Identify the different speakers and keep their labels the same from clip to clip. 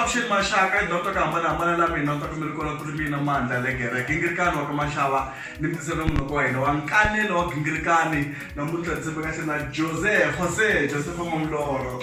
Speaker 1: avuxeni maxaka dyondzo ku hambanahambana la mina kota mi ri kona ku ri mina mandla le gereke ngirikani wa ka maxava ni mitiselo munoko wa hina wa nkanelo wa gingirikani namuntlha ndzi tshembe kahle na jose jose joseph mamloro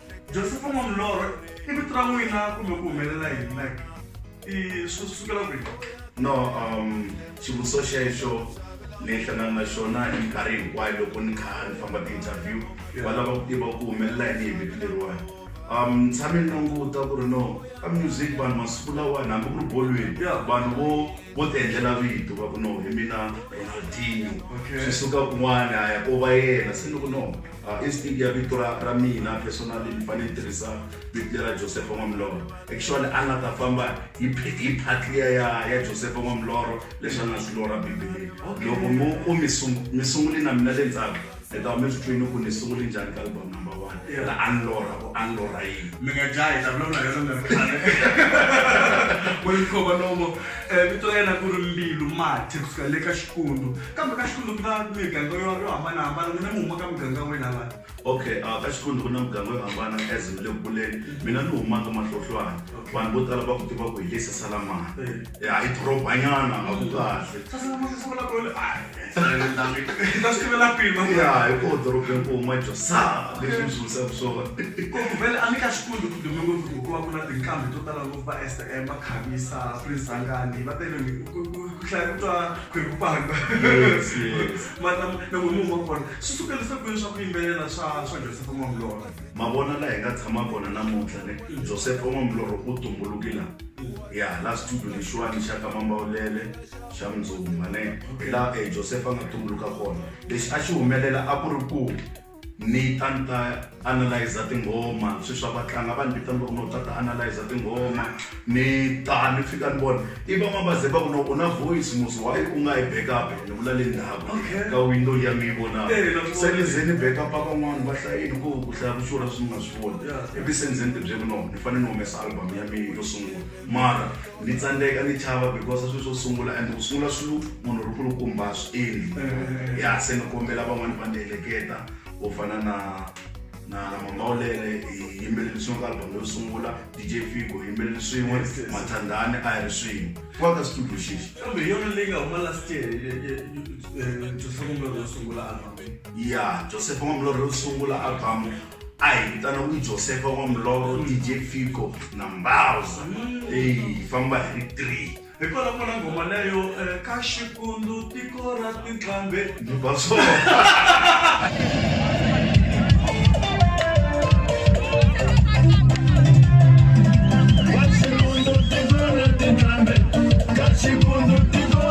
Speaker 1: Josefa n'wa milorho i vito ra n'wina kumbe ku humelela yini like i swi sukela kwihi
Speaker 2: no um xivutiso xexo ni hlangana na xona hi minkarhi hinkwayo loko ni kha ni famba ti-interview va lava ku tiva ku humelela yini hi vito leriwani um ni tshame ni languta ku ri no ka music vanhu masiku lawani hambi ku ri bolweni vanhu vo Vo tiendlela vito va ku no hi mina Ronaldinho. Okay. Swi suka kun'wana a ya ko va yena se ni ku no uh, instinct ya vito ra, ra mina personally ni fanele ni tirhisa vito lera josefa n'wamiloro actually a nga ta famba hi phe- hi phatliya ya, ya josefa n'wamiloro leswi a nga swi lora bibeleni loko mi ku mi sungu- mi sunguli na mina le ndzhaku Hi ta huma eswitwini ku ni sungule njhani ka album number one i ra a ni lorha ku a ni lorha yini. Mi nga jahi hi
Speaker 1: ta vulavula hi yona mi ri khale. Welikova Nomo, vito ra yena ku ri Mbilu Mati ku suka le ka Xikundu kambe ka Xikundu ku na miganga yo yo hambanahambana n'wina mi huma ka muganga wihi la vanhu?
Speaker 2: Okay a ka Xikundu ku na muganga yo hambana as mi le ku kuleni mina ni huma ka Mahlohlwana vanhu vo tala va ku tiva ku hi le Sesalamani. ya hi dorobanyana a ku kahle sasa lama ku sungula ku ta swi tivela kwini ya hi ko dorobeni ku huma josa leswi swi wisaka swona ku vele
Speaker 1: a ni ka xikulu ku dume ngopfu hikuva ku na tinkambi to tala ngopfu va stm va khavisa prince angani va tele ku hlaya ku twa khweku panga nan'we mun'we wa kona swi sukelisa kwini swa ku yimbelela swa swa joseph n'wamulolo mavona laha hi nga
Speaker 2: tshama kona namuntlha ne joseph n'wamulolo u tumbulukile ya la studio lexiwani xa ka mambawulele xa mundzuku mane hi laha um eh, josefa a nga tumbuluka kona lexi a xi humelela a ku ri ku ni ta ni ta analyza tinghoma swi swa vatlanga va ni vitana no ta ta analyza tinghoma ni ta ni fika ni vona i van'wana va ze va ku no u na voice musi why u nga yi backup ni vula le ndhaku ka window ya mi yi vonaka se ni ze ni backup van'wana va hlayini ku ku hlaya vuxura swi nga swi voni ivi se ni ze ni tibyeli no ni fane ni humesa album ya mina yo sungula mara ni tsandzeka ni chava because swilo swo sungula and ku sungula swilo munhu ri kulukumba swi endli eh. ya se ni kombela van'wani va ni heleketa vo fana na na na mamawulele hi yimbeleli swin'we ka album yo sungula dj figo hi yimbeleli swin'we mathandani a hi ri swin'we wa ka studio xexi kambe hi yona leyi nga huma
Speaker 1: last year joseph mamlore yo sungula album ya joseph
Speaker 2: mamlore yo sungula album a hi vitana ku josefa wa muloro dj fico na mbauza eyi hi famba hi ri three hi kona kona nghoma
Speaker 1: leyo eh, ka xikundu tiko ra tinqambe ni ba
Speaker 2: swona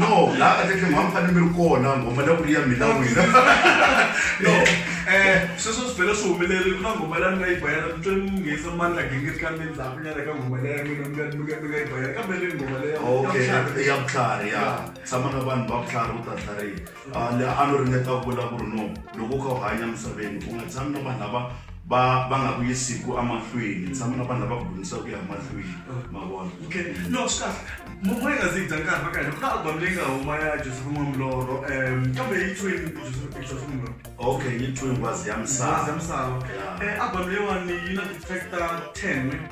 Speaker 1: no la ka tleke mwa mfane mi ri kona ngoma la ku ri ya mina wena no eh sweswo swi bela swi humelele ku na ngoma la ni nga yi bayana ni twe ni nghenisa mandla gingiri ka mina ndzhaku nyana ka ngoma leya mina mi nga mi nga mi nga yi bayana kambe leyi ngoma leya okay ya vutlhari
Speaker 2: ya tshama na vanhu va vutlhari u ta tlhariha Tala a no ringeta ku vula ku ri no loko u kha u hanya emisaveni u nga tshami na vanhu lava va va nga ku yisiku emahlweni tshama na vanhu lava ku dyondzisa ku ya emahlweni ma vona okay no swi
Speaker 1: kahle momoya nga zi dya nkarhi va ka hina ku na album leyi nga huma ya joseph n'wamloro um kambe yi twini joseph joseph n'wamloro okay yi twini
Speaker 2: ngwazi ya misava
Speaker 1: ngwazi
Speaker 2: ya misava
Speaker 1: um album
Speaker 2: leyiwani
Speaker 1: yi na
Speaker 2: ti-track
Speaker 1: ta
Speaker 2: ten
Speaker 1: ne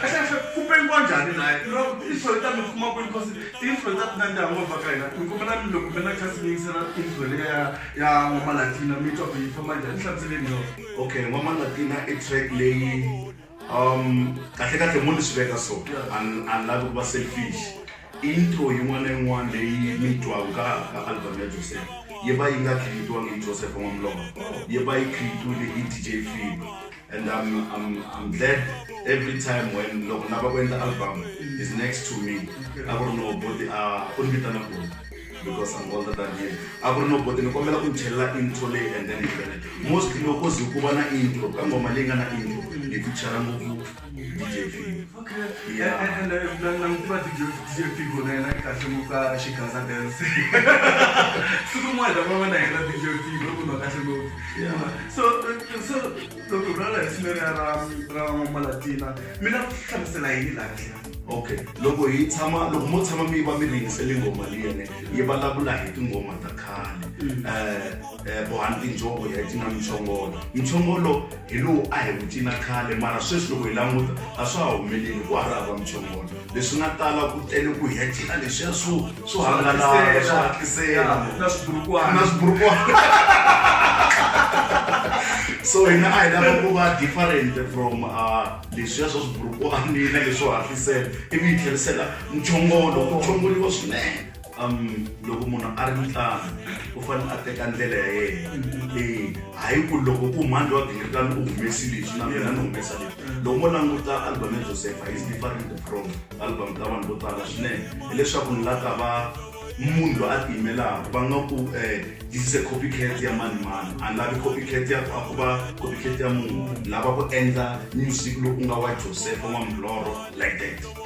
Speaker 2: kahle kahle ku pengiwa njhani naye no intro yi ta mi kuma kwini cause intro yi ta ti nandziha ngopfu ka hina ni kombela mi loko mi na chance mi yingisela intro leya ya ya n'wamalatina mi twa ku yi famba njhani hlamuseleni yona okay n'wamalatina i track leyi um kahle kahle mo ni swi veka so ani lavi ku va selfish intro yin'wana na yin'wana leyi mi twaka ka ka album ya joseph yi va yi nga creatiwangi hi joseph n'wamlova yi va yi creatiwile hi dj fiba and I'm, I'm, I'm glad every time when loko lava ku endla album is next to me a ku ri no boti a u ni vitana boti because I'm older than him a ku ri no boti ni kombela ku ni chelela intro leyi and then yivele mostly loko ze ku va na intro ka ngoma leyi nga na intro ni fichara ngopfu DJ Figo yeah
Speaker 1: nangitiva dj figo na yena kahle ngopfu ka xigaza dance siku rin'wana ta famba na yena dj figo u kunwa kahle ngopfu so so loko ra laha hi ra ra ra malatina mi lava ku hlamusela yini laha kahle okay loko
Speaker 2: hi tshama loko mo tshama mi va mi ringisele ngoma liyene yi vulavula hi tinghoma ta khale um bohani tinjoko ya cina michongolo michongolo hi lowu a hi wu cina khale mara sweswi loko hi languta a swa ha humeleli ku ha ri hava michongolo leswi nga tala ku tele ku hetela leswiya swo swo hangalaka swo hatlisela na swiburukwana
Speaker 1: na swiburukwana
Speaker 2: so hina a hi lava ku va different from uh, leswiya swa swiburukwana na leswo hatlisela ivi hi tlherisela mchongolo ku chongoliwa swinene um loko munhu a ri mutlangi u fanele a teka ndlela ya yena leyi hayi ku loko u mhandzi wa gingirikani u humesi lexi na mina ni humesa lexi loko mo languta album ya josepha is different from album ta vanhu vo tala swinene hileswaku ni la ta va munhu loyi a tiyimelaka va nga ku um this is a copy cat ya mani mani a ni lavi copy cat ya a ku va copy cat ya munhu ni lava ku endla music lowu ku nga wa josepha n'wamuloro like that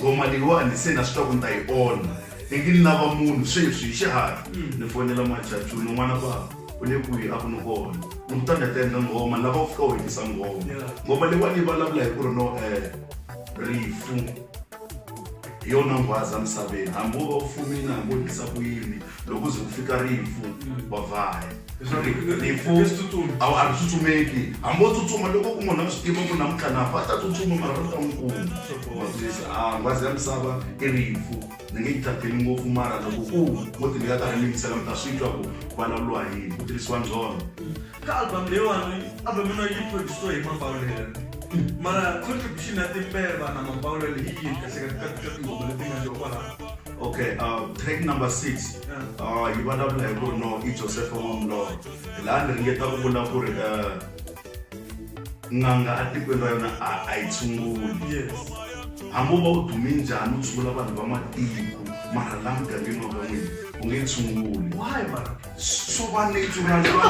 Speaker 2: ngoma leyiwani se na swi twa ku ni ta yi onha teki ni lava munhu sweswi hi xihatla ni fonela machachuni n'wana bava u le kwihi a ku ni kona ni ku ta ni ta endla ngoma ni lava ku fika u hetisa ngoma ngoma leyiwani yi vulavula hi ku ri no um rifu hi yona nghwaza misaveni hambi wo va u fumini hambi wo dlisa ku yini loko ze ku fika rifu wa vhaya rifu a ri tsutsumeki hambi wo tsutsuma loko ku munhu a swi tiva ku namuntlha nafa a ta tsutsuma mara ri ta n'wi kuma maphilisi a ah, ngwazi ya misava i rifu ni nge yi tlakeli ngopfu mara loko ku mo ti ni nga karhi ni yingisela mi ta swi twa ku ku vulavuriwa yini ku tirhisiwa ndzhono ka album
Speaker 1: leyiwani album yona yi produsiwe hi mapawulele mara contribution ya timbeva na mapawulele hi yini kahlekaka tinghoma leti nga loko laha okay uh,
Speaker 2: track number six uh, yi vulavula hi ku no i joseph wamlor hi laha ni ringeta ku vula ku ri uh, n'anga atikweni ra yona a yi tshunguli hambi u va u dume njhani u tshungula vanhu va matiko mara laha mugangeni wa ka n'wini u nge tshunguli swo va nature ra lowo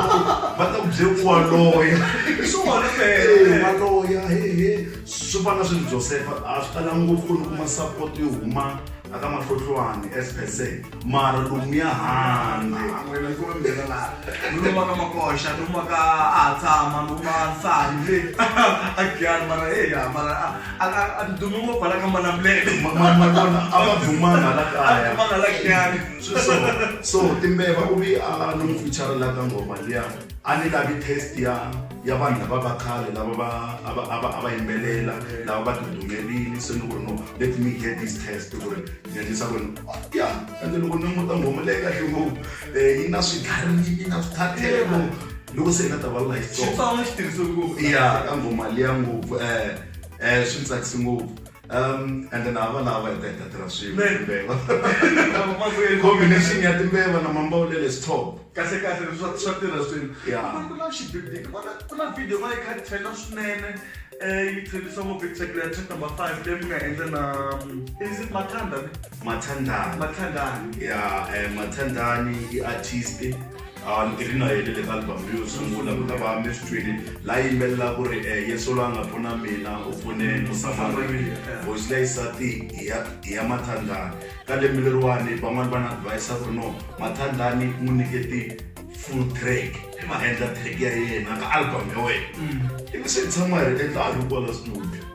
Speaker 2: va ta ku bye ku wa loya i swona eh, wa loya hehe swo fana swilo josefa a swi tala ngopfu ku ni kuma support yo huma aka mahlohlwani as per se mara lomu ya handleumaka
Speaker 1: makoxa lumaka a ha tshama luma nsani agiani mara eya mara a ti dumi ngopfu hala ka manamulele a va
Speaker 2: dumanga la kaya so timbeva u vi a ni n'wi fichalela
Speaker 1: ka
Speaker 2: ngoma liya a ni lavi test ya ya vanhu lava va khale lava va a va a va a va yimbelela lava va tidumelini se ni ku ri no let me get this test ku ri ni endlisa ku ri ya ende loko ni muta ngoma leyi kahle ngopfu eh, yi na swigarini na swithathelo loko se hi nga ta va life song
Speaker 1: ya ka ngoma liya
Speaker 2: ngopfu um um swi tsakisi ngopfu Um, ende na hava lava hi ta hi ta tirha swin'we timbeva combination ya timbeva na mambawulele is top kahle kahle swa
Speaker 1: swa tirha swin'we Yeah. ku na xibibiki
Speaker 2: ku
Speaker 1: na ku na video va yi kha tela swinene eh yi thelisa ngopfu yi tshekela track number five leyi mi nga endla na um, is it mathanda ne mathandana mathandani ya eh,
Speaker 2: mathandani i artist a ni ri na yele le ka album leyo sungula ku ta va mestrini la yimbelela ku ri um yesu la nga pfuna mina u pfune musamariya voice leyi sati hi ya hi ya mathandlani ka lembe leriwani van'wani va na advise ku ri no mathandlani n'wi nyiketi full track i ma endla track ya yena ka album ya wena ivi se hi tshama hi ri endla a ri kwala studio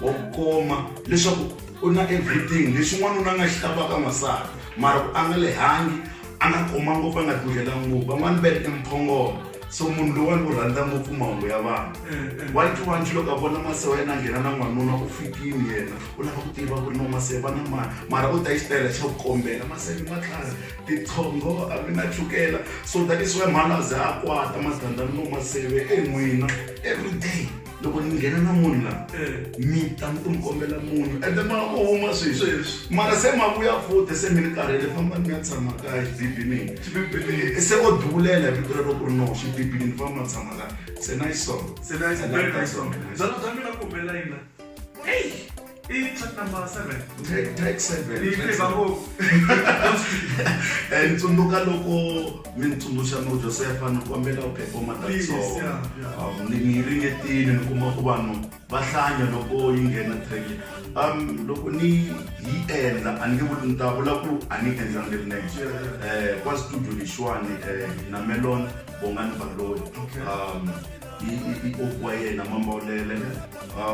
Speaker 2: wa ku koma leswaku u na everything lexi n'wanuna nga xi lavaka n'wansati mara ku a nga le hangi a nga koma ngopfu a nga dlulhela ngopfu van'wani va ri emphongolo so munhu lowani u rhandza ngopfu mahungu ya vanhu wanti wanti loko a vona mase wa yena a nghena na n'wanuna u fikini yena u lava ku tiva ku ri no mase va na mani mara u ta yi xitayela xa ku kombela mase ni matlhari titshongo a mi na chukela so that is why mhana a ze a kwata masithandani no maseve en'wina every day loko ni nghena na munhu la eh. mi ta ni tumukombela munhu ende ma ku huma sweswi mara se ma vuya futhi se mi ni karhele famba ni ya tshama ka xibibini eh, se o duvulela hi vito rero ku ri no xibibini ni famba tshama ka se na yi sona se na yi sona zalo
Speaker 1: bya mina kumela yina Hey, track number seven.
Speaker 2: Track, track
Speaker 1: seven. Ni track seven.
Speaker 2: Eh, tsundzuka loko mi ni tsundzuxa no Josefa ni kombela u performa that song. Um, ni ni ringetile ni kuma ku vanhu va hlanya loko yi nghena track. Um, loko ni yi endla a ni nge vuli ni ta vula ku a ni endla ni ri next. Eh, kwa studio lexiwani eh, na Melon Bongani Baloyi. Um, i i i koku wa yena mambaulele a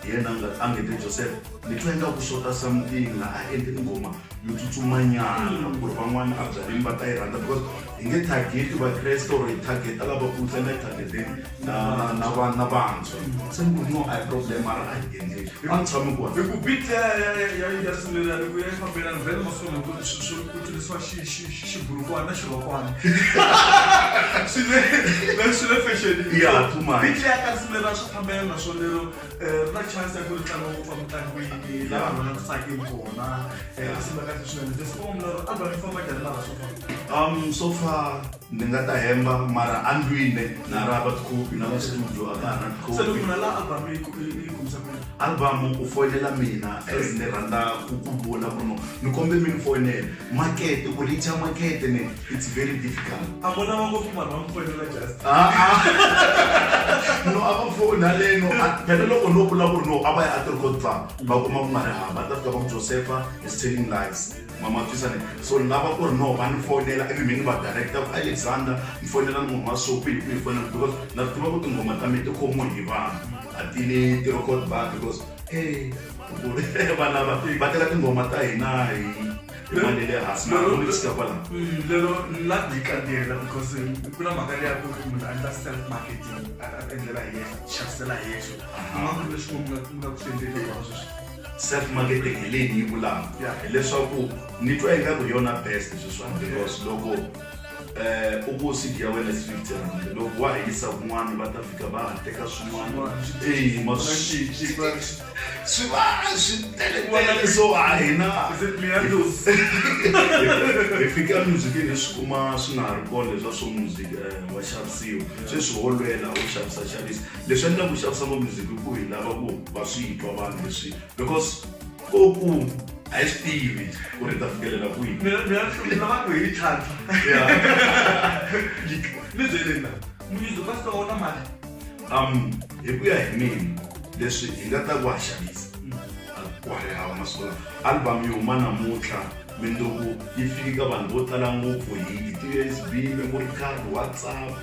Speaker 2: hi yena a nga a nge te joseph ni twa inga ku xota something la a endli ni ngoma yo tsutsumanyana ku ri van'wana a byaleni va ta yi rhandza because hi nge target vakreste or hi targeta lava ku tsena targeteni na na va na vantshwa se ni ku no a hi problem a ri a hi endleni a ni tshami kona hi ku bit ya ya ya
Speaker 1: ya ya swilerani ku ya yi fambelana vhele masiku lama ku ku tirhisiwa xi xiburukwana xirhokwana swi le swi le fashionini ya phuma bit ya
Speaker 2: karisimelana swa
Speaker 1: fambela naswona lero eh, ri na chance ya ku ri tlanga ngopfu emitlangwini laha vanhu va nga tsakeli kona eh, risimelaka swinene leswi va mlero album yi famba njhani mara swo famba um so far
Speaker 2: Ni nga ta hemba mara a ndlwile na ha ri hava tikhopi na va studio a ka ha ri na tikhopi. Se loko munhu a lava album
Speaker 1: yi ku- yi- yi kumisa ku yini? albhamu u foyinela
Speaker 2: mina as ni rhandza ku ku vula ku ri no ni kombe mi ni foyinela makete ku richa makete ne it's very difficult a vo lava ngopfu
Speaker 1: vanhu va mi
Speaker 2: fonela just Ah, ah. no a va foni haleno a- phela loko no vula ku ri no a va ya a ti-record bar va kuma ku nga ri hava a ta fika va ku josepha is telling lies mamatwisane so ni lava ku ri no va ni fonela ivi mi ni va directa ku alexander ni fonela ni huma so kwihi kwihi fonela because na swi tiva ku tinghoma ta mina ti khomiwe hi vanhu a ti ni ti-record bar because e vana va va tela tinghoma ta hina hi hi mali le hansi na loko ni fika kwala lero la
Speaker 1: yi kandiyela because ku na mhaka leya ku ri munhu a endla self marketing a endlela hi yexe xavisela hi yexe u nga ku leswi nga ku swi endlele sweswi Self marketing
Speaker 2: hi leyi ni yi vulaka hileswaku ni twa ingaku hi yona best sweswiwani because loko eh, u ku cd ya wena fifty rand loko wa ha yisa kun'wana va ta fika va ha teka swin'wana eyi ma swi swi va swi teletele so a hina hi fika emuzikini hi swi kuma swi nga ha ri kona leswa swo music eh, wa xavisiwa sweswi wo lwela wo xavisa xavisa leswi endlaka ku xavisa va music i ku hi lava ku va swi twa vanhu leswi because ko ku a yi swi tivi ku ri ta fikelela kwihi mina mina hlumela vanhu
Speaker 1: hi tlhantlha ni byelena
Speaker 2: munyizo
Speaker 1: ka sika
Speaker 2: wona
Speaker 1: mali um
Speaker 2: hi ku ya
Speaker 1: hi
Speaker 2: mina
Speaker 1: leswi
Speaker 2: hi nga ta ku ha xavisa ku ha ri hava masiku lawa album yi huma namuntlha mindzuku yi fiki ka vanhu vo tala ngopfu hi ti-usb memory card whatsapp um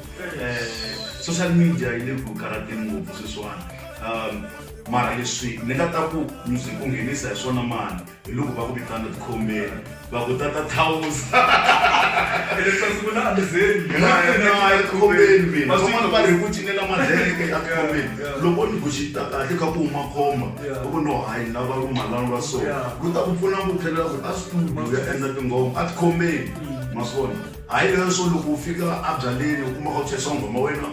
Speaker 2: social media yi le ku karateni ngopfu sweswiwani um mara leswi ni nga ta ku music ku nghenisa hi swona mani hi loko va ku vitana tikhombeni va ku tata thawusa va ri ku cinela madleke a tikhombeni loko ni kuxita kahle ka ku huma khomba va ku no hayi ni lava rumalana lwa so ku ta ku pfuna ku tlhelela ku a studio ya endla tinghoma a tikhombeni mm. ma swona hayi leswo loko u fika a byaleni u kuma ka ku chesa nghoma wena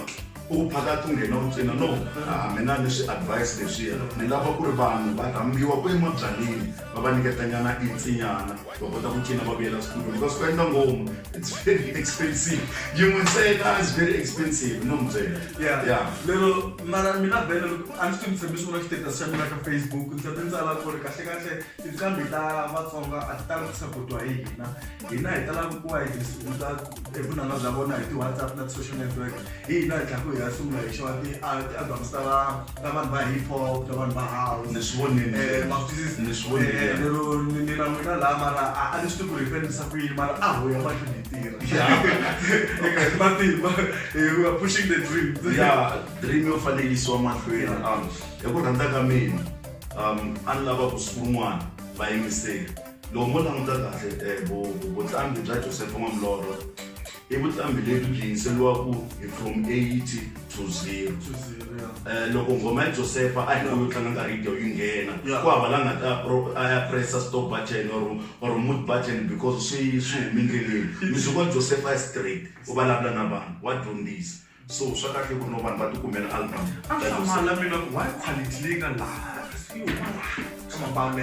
Speaker 2: u phakati u nghena u cina no a mi na ni swi advise leswiya ni lava ku ri vanhu va rhambiwa ku emabyaleni va va nyiketanyana insinyana va kota ku cina va vuyela studio because ku endla ngoma it's very expensive yin'we ntsena is very expensive no mi byela ya ya lero
Speaker 1: mara mina bele a ni swi mi tshembisi ku na status xa mina ka facebook ndzi ta ni tsala ku ri kahlekahle tinqambi ta vatsonga a ti tala ku sapotiwa hi hina hina hi tala ku kuwa hi sungula hi vunanga bya vona hi ti-whatsapp na ti-social network hi hina hi tlhaku hi ya sungula hi xava ti-albums ta ta vanhu va hip hop ta vanhu va house ni swi vonile eh,
Speaker 2: mafisisi ni swi vonile eh, lero ni
Speaker 1: na n'wina laha mara a ni swi tivi ku ri hi fanelisa ku yini mara a ho ya mahlweni hi tirha eka hi matimba hi wa pushing the dream ya dream yo
Speaker 2: fanelisiwa mahlweni um hi ku rhandza ka mina um a ni lava ku siku rin'wana va yingiseli loko mo languta kahle eh, vutlambi bya josefa n'wamlorho i vutlambi lebyi byi yingiseriwaka hi from 80 to 0 um loko nghoma ya josefa a hi nga yo tlanga nkarhi yidiyo yi nghena ku hava la nga ta a ya pressa stop button or or mood button because swi swi humi ndleleni music wa josefa straight u vulavula na vanhu wa dyondzisa so swa kahle ku no vanhu va tikumela album asamala mina
Speaker 1: ku why quality leyi nga laha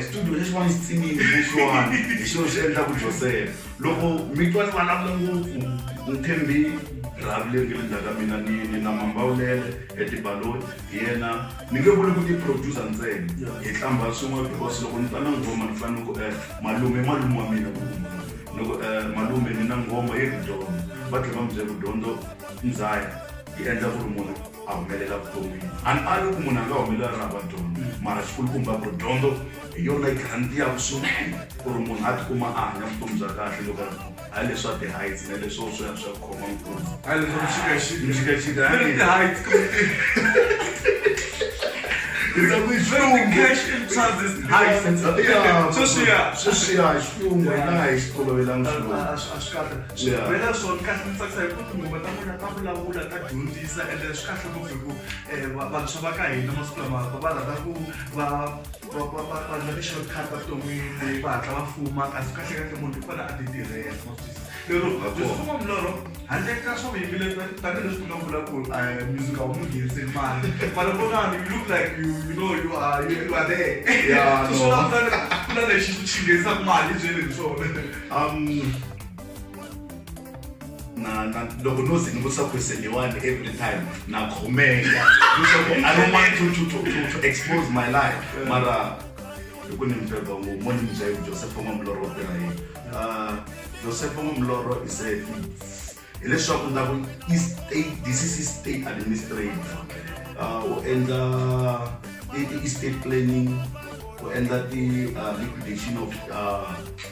Speaker 2: studio lexi va ni xitsimini kusuwani hi xilo xi endla ku josela loko mi twa ni vulavula ngopfu ni thembi rhavi leri nge le ndzhaka mina ni ni na mambawulele etibaloni hi yena ni nge vuli ku ti-producer ntsena hi tlamba swin'we because loko ni ta na nghoma ni fanele ku um malume malume wa mina ku loko um malume ni na nghoma yi ri dyondzo va tlhe va mi bye ku dyondzo ndzayo yi endla ku ri munhu a humelela vuton'wini a ni ali ku munhu a nga humelela ri hava dyondzo mara xikulukumba ku ri dyondzo hi yona yi garantiyaku swinene ku ri munhu a tikuma a hanya vutomi bya kahle loko hayi leswa ti-heights na leswo swi ya swi ya khoma nkulu
Speaker 1: mixikaxika
Speaker 2: sweswiya sweswiya xilungu hi nga ha yi xi tolovelanga xilungu swi bela swona kahle
Speaker 1: ndzi tsakisa hi ku tinguva ta n'wina ta vulavula ta dyondzisa ende swi kahle ngopfu hi ku um vantshwa va ka hina masiku lama va va rhandza ku va va ndla ti-shortcut ta vuton'wini va hatla va fuma kasi kahle kahle munhu i fane a ti tirhela lero byifumo milorho handle ka swa vuyimbeleri tanihileswi ku nga vula ku eh, music a wu n'wi ngheniseli mali mara vonani you look like you you know you are you are there so swi lava ku lana xi ku xi nghenisaka mali byele hi swona um
Speaker 2: na na loko no ze ni vutisa question leyiwani every time na khomeka leswaku i don't want to, to, to, to, to expose my life mara hi ku ni mi beba ngopfu mo ni mi byayi josepho n'wamulorho wa tirha yini Ah, josepho n'wamulorho is a hileswaku ni ta ku i state this is i state administrator Ah, u endla i- i- i state planning u endla ti ah, liquidation of ah,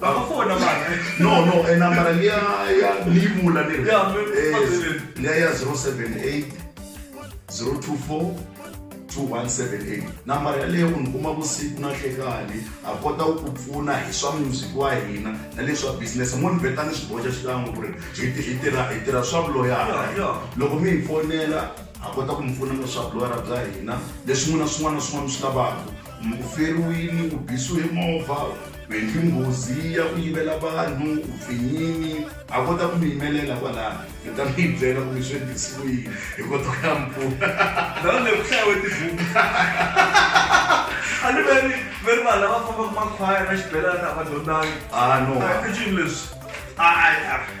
Speaker 1: vakafona vanhu no no e nambara liya
Speaker 2: ya ni yi vula ni ri Ya, mi- Eh, phazeleni. liya ya 078 024 2178 nambara yaleyo u ni kuma vusiku na hlekani a kota ku ku pfuna hi swa music wa hina na leswa business mo ni veta ni swi boxa xikan'we ku ri hi ti- hi tirha hi tirha swa vuloyara Ya, ya. loko mi hi fonela a kota ku mi pfuna na swa vuloyara bya hina leswi n'wina swin'wana na swin'wana mi swi lavaka Muferi wini u bisiwe movha u endli nghozi ya ku yivela vanhu u pfinyini a kota ku mi yimelela kwalano mi ta mi yi byela ku mi swi endlisiwe yini hi kota ku ya mi
Speaker 1: pfuna
Speaker 2: ndhawu leyi ku hlayiwe
Speaker 1: tibuku
Speaker 2: a
Speaker 1: ni ve ri ve ri vanhu lava fambaka makhwaya na xibelana a va dyondzangi a no a ti
Speaker 2: cinci leswi
Speaker 1: a a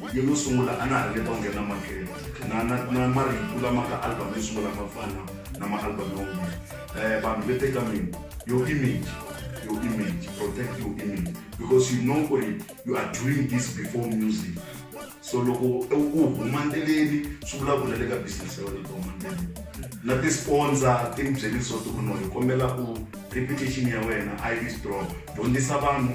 Speaker 2: Vhidiyo yo sungula a na ha ringeta ku nghena makete na na na marito lama ka album yo sungula ma fana na maalbum man'wana um vanhu ve teka mina your image your image protect your image because you know ku ri you are doing this before music so loko u huma ndleleni swi vulavula le ka business ya wena loko huma ndleleni na ti-sponsor ti ni byele leswaku ku no hi kombela u reputation ya wena a yi strong dyondzisa vanhu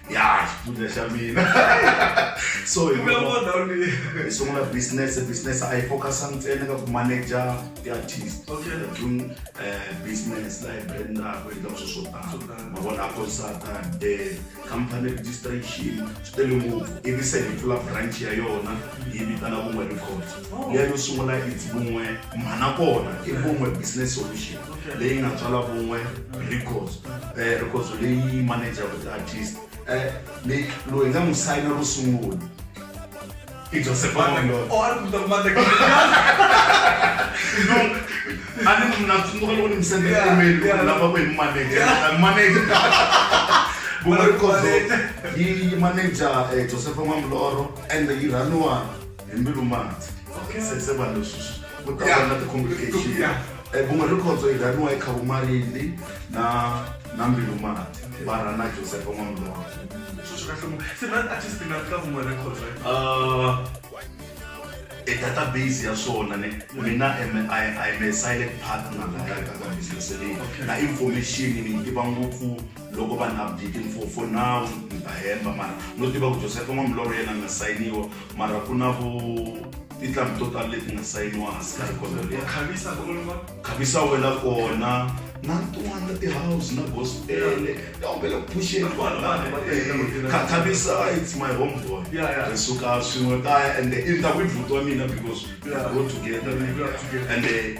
Speaker 2: ya xifundza xa mina so hi Kumbe vona- ndhawu leyi hi sungula business business a yi focus ntsena ka ku manager ti-artist Okay. We're doing eh, business laha hi brandaka hi endlaka swilo swo Swo tala tala. mavona a consata eh, company registration swi tele ngopfu ivi se hi pfula branch ya yona yi vitana vun'we records leyi yo sungula it's vun'we mhana kona i vun'we business solution leyi nga tswala vun'we records eh, records leyi manager with artist eh, leyi loyi nga n'wi sayina ro sungula i joseph ani mna tsundzuka loko ni mi sendela email ku lava ku hi manager manager vun'we records yi manager eh, joseph mamloro and yi rhaniwa hi mbilu mati se se vanhu leswi ku ta Yeah. va na ti-complication Yeah. Eh, vun'we rikhondzo hi rhaniwa hi khavumarindi na na mbilu mati va rhana josefa n'wamulova swilo swi kahle ngopfu se na artist nga ka vun'we records right Ah, e database ya swona ni mina am a I'm a silent partner la ka ka business leyi na information ni yi tiva ngopfu loko vanhu a byi timfofo nawu ni ta hemba mara no tiva ku josefa n'wa milorho yena a nga sayiniwa mara ku na vo titlambi to tala leti nga sayiniwa hansi ka rikondo leri khavisa wela kona na tin'wana na tihouse na gospele ta humbela ku phuxeni khavisa it's my home boy ri suka swin'we kaya ende i ndhawu i bhuti wa mina because we grow together ende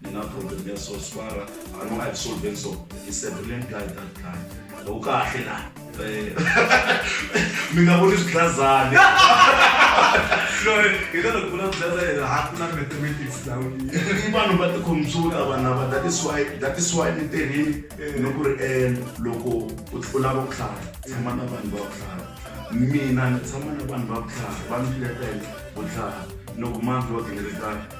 Speaker 2: ni na problem ya so swara a no a solve so i said brilliant guy that guy u kahle la eh. mi nga voni swiglazane hi tala ku vula
Speaker 1: swiglazane yena ha ku na mathematics lawa i vanhu va
Speaker 2: tikhompyuta vana va that is why that is why ni tirhini eh. ni ku ri um loko u lava ku hlaya tshama na vanhu va ku hlaya mina ni tshama na vanhu va ku hlaya va ni letela ku hlaya loko manzi wa gingirikana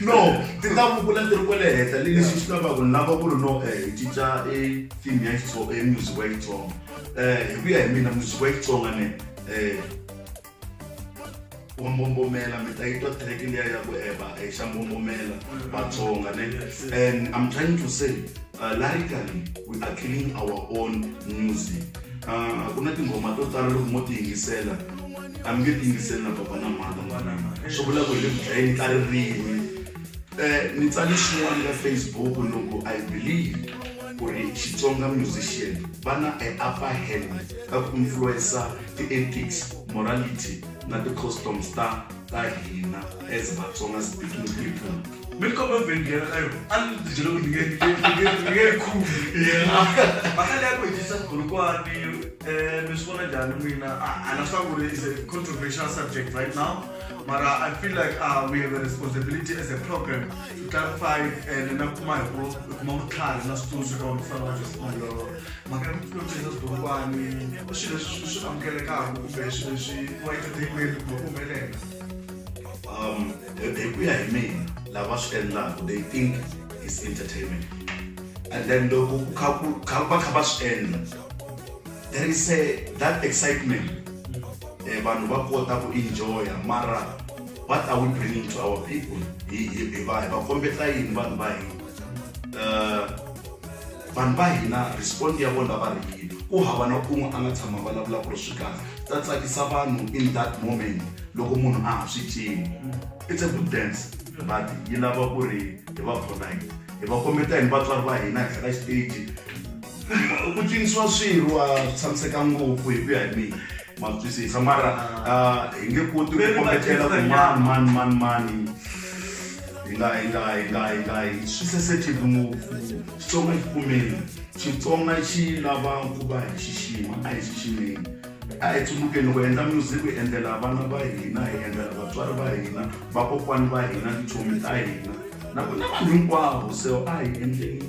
Speaker 2: no ti ta vukula ti ri kwale henhla le leswi swi lavaka ni lava ku ri no um hi cinca e theme ya xitsonga e music wa xitsonga um hi ku ya hi mina music wa xitsonga ne um wa mbombomela mi ta yitwa track liya ya ku eva eh, eh, xa mbombomela vatsonga ne and i'm trying to say uh, lyrically we are killing our own music Ah, ku na tinghoma to tala loko mo ti yingisela a mi nge ti yingiseli na baba na mhana swi vula ku hi le ku dlayeni ka ririmi um ni tsale xin'wana ka facebook loko i believe ku ri xitsonga musician va na e upper hand ka ku influensa ti-ethics morality na ti-customs ta ka hina as vatsonga speaking people mi ri komba
Speaker 1: vhengela ka yona a ni ti byela ku ni nge yi khumi mhaka leya ku hetisa vukhulukwani um mi swi vona njhani n'wina a na swa ku ri is a controversial subject right now mara i feel like uh, we have a responsibility as a program to clarify and na kuma hi ku kuma vutlhari na switsundzuxo ka vafana va joseph mandlolo mhaka ya vutloti na vudokwani i swilo leswi swi amukelekaka kumbe swilo leswi wa etidekweni kumbe ku humelela
Speaker 2: um hi ku ya hi mina lava swi endlaka they think is entertainment and then loko ku kha ku kha va kha va swi endla there is a that excitement eh, vanhu va kota ku enjoya mara what are we bringing to our people hi va hi va kombeta yini vanhu va hina uh, Vanhu va hina respond ya vona va ri yini? Ku hava na un'we a nga tshama a vulavula ku ri swi kahle. Ta tsakisa vanhu in that moment loko munhu a ha swi cini. It's a good dance but yi lava ku ri hi va polite. Hi va kombeta yini vatswari va hina henhla ka xiteji? Ku cinisiwa swirho a swi tshamiseka ngopfu hi ku ya hi mina. ma twisisa mara ah, hi nge koti ku kombetela ku mani mani mani mani hi nga hi nga hi nga hi nga hi swi sensitive ngopfu xitsonga xi kumeni xitsonga xi lava ku va hi xixima a hi xiximeni a hi tsundukeni ku endla music hi endlela vana va hina hi endlela vatswari va hina vakokwani va hina tichomi ta hina na ku na vanhu hinkwavo so a hi endleni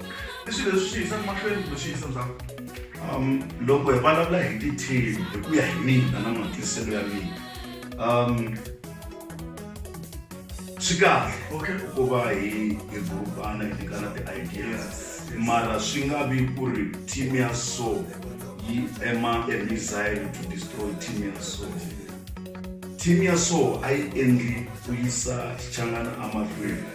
Speaker 1: i swilo leswi swi yisaka mahlweni kumbe swi yisa ndzhaku um
Speaker 2: loko hi vulavula hi ti-team hi ku ya hi mina na matwiselo ya mina um swi kahle okay ku va hi hi grupana hi nyikana ti-ideas mara swi nga vi ku ri team ya so yi ema a missile to destroy team ya so team ya so a yi endli ku yisa xichangana amahlweni